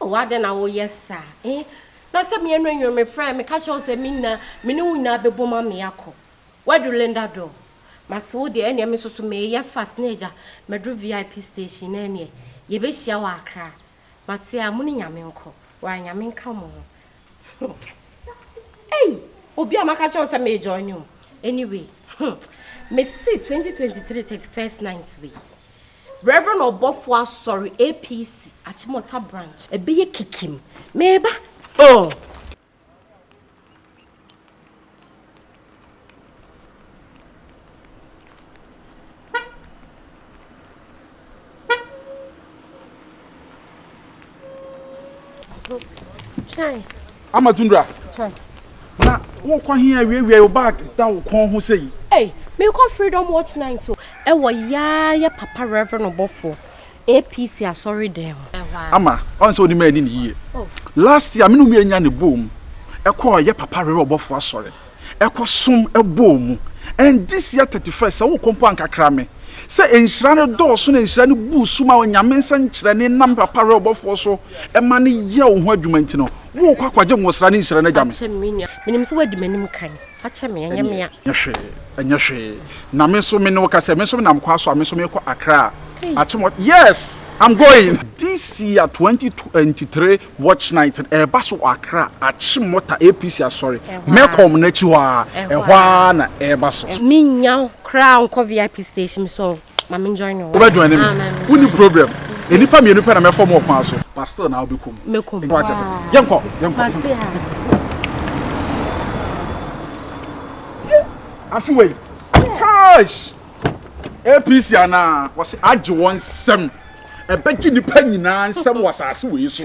Oh adɛn na woyɛ saa eh Na sɛ me anwunnwere me frɛ meka kyerɛ wo sɛ me nna Me ne wo nyinaa bɛbom ame akɔ Wadu Linda door Mate wo deɛ ɛneɛ me nso so meyɛ fast ne agya Maduru VIP station na ɛneɛ yɛbɛhyia wɔ Accra Mate a mo ne Nyame nkɔ Wɔ a Nyame nka mo ho Huh ei obi a maka kyerɛ wo sɛ me join o anyway huh mese 2023 thirty first night wei Reverend Ɔbɔfo Asɔre APC Achimota branch ɛbɛyɛ kikim meba oh. ama tundra na wokɔ he awiawia wo bag da wo kɔn ho sɛ yi mekɔ freedom watch night so ɛwɔ yaayɛ papa reverend ɔbɔfoɔ APC asɔredan mu. Ama ɔn sɛ onim ɛni ne yie last year me ne ɔmu ɛnya ne bɔɔ mu ɛkɔ ɔyɛ papa rere ɔbɔfo asɔre ɛkɔ som ɛbɔɔ mu and this year thirty first sɛ wokɔ mpo ankakra me sɛ nhyira no dɔɔso na nhyira no buu so ma onyame nsa nkyerɛne nam papa rere ɔbɔfoɔ so ɛma no yɛ wo ho adwuma nti no wokɔ akɔgye nwosra ne nhyira no agya me. Menim sɛ wadi m'anim kan. Fakyɛ me, ɛnyɛ me a. Ɛnyɛ hwee, ɛnyɛ hwee. Na me nso me ne wo ka sɛ, me nso menam kwa so a, me nso mekɔ Accra. Hey. Akyem, yes, I'm going. This year, 2023 Watch Night no, ɛreba so wɔ Accra, Akyemmɔta APC Asɔre. Mɛkɔ wɔn akyi hɔ ara, ɛhɔ ara na ɛreba so. Mennya wo koraa nkɔ VIP station so. Wobɛ join me. Wonni problem. Nnipa mmienu pɛ na mɛfɔ mu ɔkwan so. But still na wobɛkɔ mu. Mɛkɔ mu. Wate sɛ. Yɛnkɔ. Yɛnkɔ. Afi wei. Kash. APC anaa wɔsi agye wɔn nsɛm. Ɛbɛgye nipa nyinaa nsɛm wɔ asase wei so.